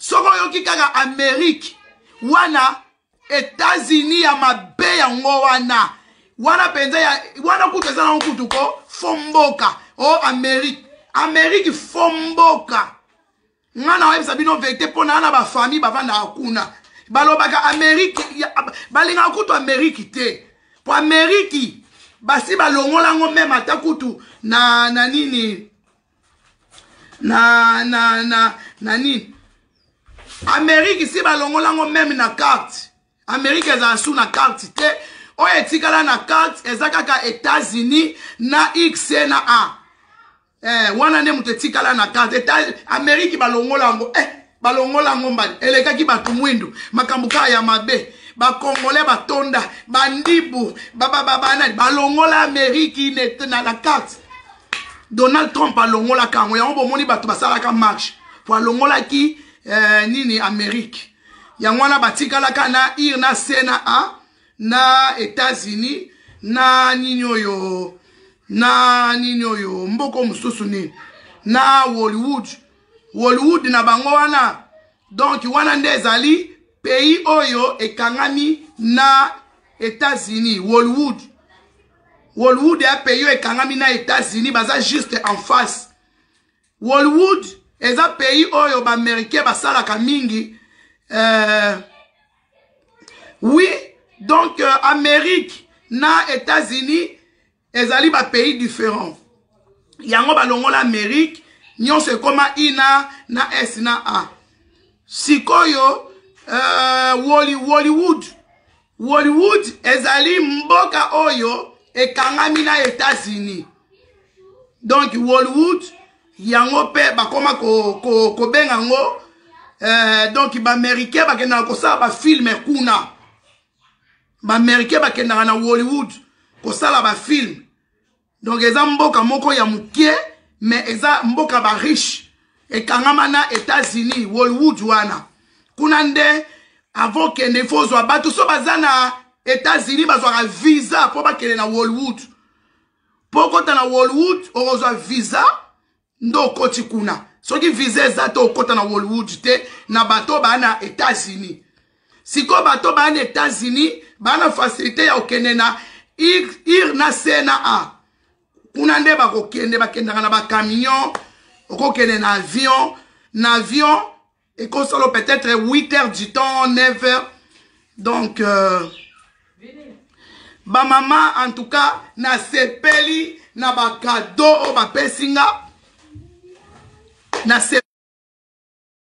soki oyoki kaka amerike wana etats-unis ya mabe yango wana wana mpenza wana kutu eza nango kutu ko fo mboka o oh, amerike amerike fo mboka nga na oyebisa bino verite mpo naa na bafamille bavandaka kuna balobaka ameriki balingaka kutu ameriki te mpo ameriki basi balongolango meme ata kutu na na nini na na na na nini ameriki si balongolango meme na karte amerike ezala su na karte te oyo etikala na karte eza kaka etats-unis na x na a eh, wana nde moto etikala na karte amerike balongola yango eh, balongola yango mbadi elekaki bato mwindu makambo kaka ya mabe bakongole batonda bandibu babababanani balongola amerike na la karte donald trump alongolaka yango yango bomoni bato basalaka marche po alongolaki eh, nini amerike yango wana batikalaka na ir na c na a na états-unis na nini oyo na nini oyo mboko mosusu nini na hollywood hollywood na bango wana donk wana nde ezali pays oyo ekangami na états-unis hollywood hollywood ya pays oyo ekangami na états-unis baza juste en face Hollywood eza pays oyo ba américain basalaka mingi euh, oui donc euh, amérique na états-unis ezali ba pays différent yango balongola amérique nyonso ekoma ina na s na a sikoyo euh, Wally, hollywood Hollywood ezali mboka oyo ekangami na Etats-Unis. Donc Hollywood yango mpe bakoma kobenga ko, ko yango eh, donc baaméricain bakendaka kosala bafilme kuna baaméricain bakendaka na hollywood kosala bafilme donc eza mboka moko ya mokie mais eza mboka ba riche ekangama na états-unis wolwood wana kuna nde avant okende ifo ozwa bato so baza na états-unis bazwaka visa mpo bakende na wolwood mpo okota na wolwood okozwa visa nde okoti kuna soki visa eza te okota na hollywood te na bato baa na états-unis sikoyo bato baa na états-unis baa na facilité ya kokende na ir na c na a kuna nde bakokende bakendaka na bacamion okokende na avion na avion ekosalo peut-être 8 heures du temps 9 heures donc euh, bamama en tout cas nasepeli na bakado oyo bapesi nga nasepeli